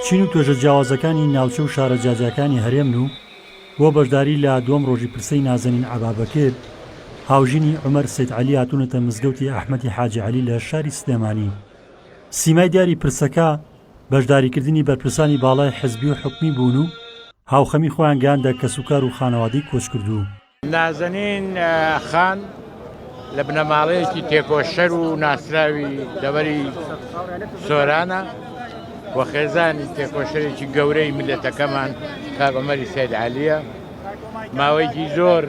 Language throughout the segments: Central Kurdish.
چین و توێژە جیاوازەکانی ناوچە و شارە جیاجیاکانی هەرێمن و بۆ بەشداری لە دووەم ڕۆژی پرسەی نازەنین عەبا بەکر، هاوژینی عومەر سەید عەلی هاتوونەتە مزگەوتی ئەحمەدی حاجی عەلی لە شاری سلێمانی. سیمای دیاری پرسەکە بەشداریکردنی بەرپرسانی باڵای حزبی و حکومی بوون و هاوخەمی خۆیان گەیاندە کەسوکار و خانەوادەی کۆچکردوو. نازەنین خان لە بنەماڵەیەکی تێکۆشەر و ناسراوی دەوەری سۆرانە و خێزانی تێکۆشەرێکی گەورەی ملەتەکەمان کاگۆمەری سید عالیە ماوەیەکی زۆر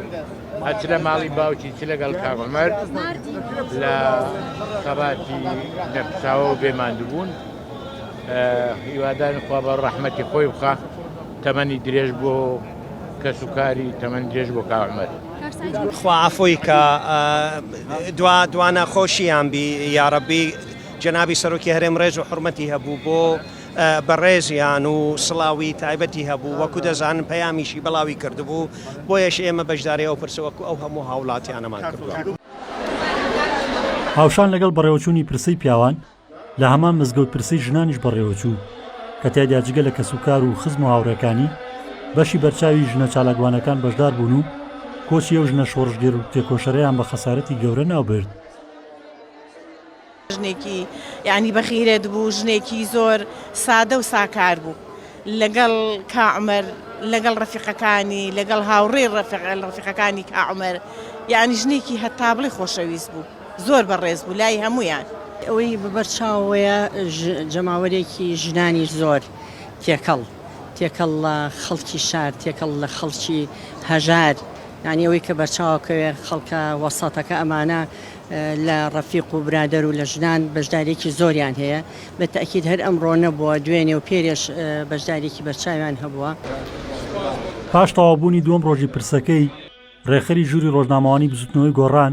ئەچ لە ماڵی باوکی چ لەگەڵ کاغمەر لە خەباتی نەفساوە و بێماندبوون هیوادان خوا بە ڕەحمەتی خۆی بخە تەمەنی درێژ بۆ کەس و کاری تەمەن درێژ بۆ کاک عومەر. خوا عەفوی کا دوا دوا نەخۆشیان بی یارەبی جەنابی سەرۆکی هەرێم ڕێز و حورمەتی هەبوو بۆ بەڕێزیان و سڵاوی تایبەتی هەبوو وەکو دەزانن پەیامیشی بڵاوی کردبوو بۆیەش ئێمە بەشداری ئەو پرسە وەکو ئەو هەموو هاوڵاتیانەمان کردوە. هاوشان لەگەڵ بەڕێوەچوونی پرسەی پیاوان، لە هەمان مزگەوت پرسەی ژنانیش بەڕێوەچوو، کە تیایدا جگە لە کەسوکار و خزم و هاوڕێکانی، بەشی بەرچاوی ژنە چالاکوانەکان بەشدار بوون و کۆچی ئەو ژنە شۆڕشگێر و تێکۆشەرەیان بە خەسارەتی گەورە ناوبرد. ژنێکی یانی بەغیرەت بوو، ژنێکی زۆر سادە و ساکار بوو. لەگەڵ کا عومەر، لەگەڵ ڕەفیقەکانی، لەگەڵ هاوڕێی ڕەفیقەکانی کا عومەر، یانی ژنێکی هەتابڵێی خۆشەویست بوو. زۆر بەڕێز بوو لای هەموویان. ئەوەی بەبەر چاوەوەیە جەماوەرێکی ژنانی زۆر تێکەڵ تێکەڵ لە خەڵکی شار تێکەڵ لە خەڵکی هەژار یانی ئەوەی کە بەرچاوەکەوێ خەڵکە وەسەتەکە ئەمانە لە ڕەفیق و برادەر و لە ژنان بەشدارێکی زۆریان هەیە بە تەئکید هەر ئەمڕۆ نەبووە دوێنێ و پێرێش بەشدارێکی بەرچاویان هەبووە. پاش تەواوبوونی دووەم ڕۆژی پرسەکەی، ڕێکخەری ژووری ڕۆژنامەوانیی بزووتنەوەی گۆڕان،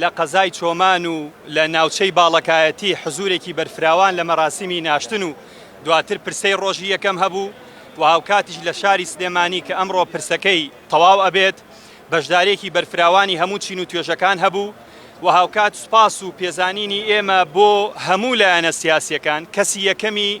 لە قەزای چۆمان و لە ناوچەی باڵەکایەتی حزورێکی بەرفراوان لە مەراسیمی ناشتن و دواتر پرسەی ڕۆژی یەکەم هەبوو و هاوکاتیش لە شاری سلێمانی کە ئەمڕۆ پرسەکەی تەواو ئەبێت بەشدارێکی بەرفراوانی هەموو چین و توێژەکان هەبوو و هاوکات سوپاس و پێزانینی ئێمە بۆ هەموو لایەنە سیاسیەکان کەسی یەکەمی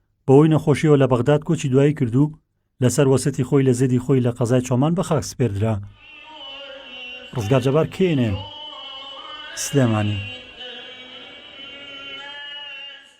بەهۆی نەخۆشیەوە لە بەغداد کۆچی دوایی کرد و لەسەر وەسێتی خۆی لە زێدی خۆی لە قەزای چۆمان بە خاک سپێردرا. ڕزگار جەبار کێنێ سلێمانی.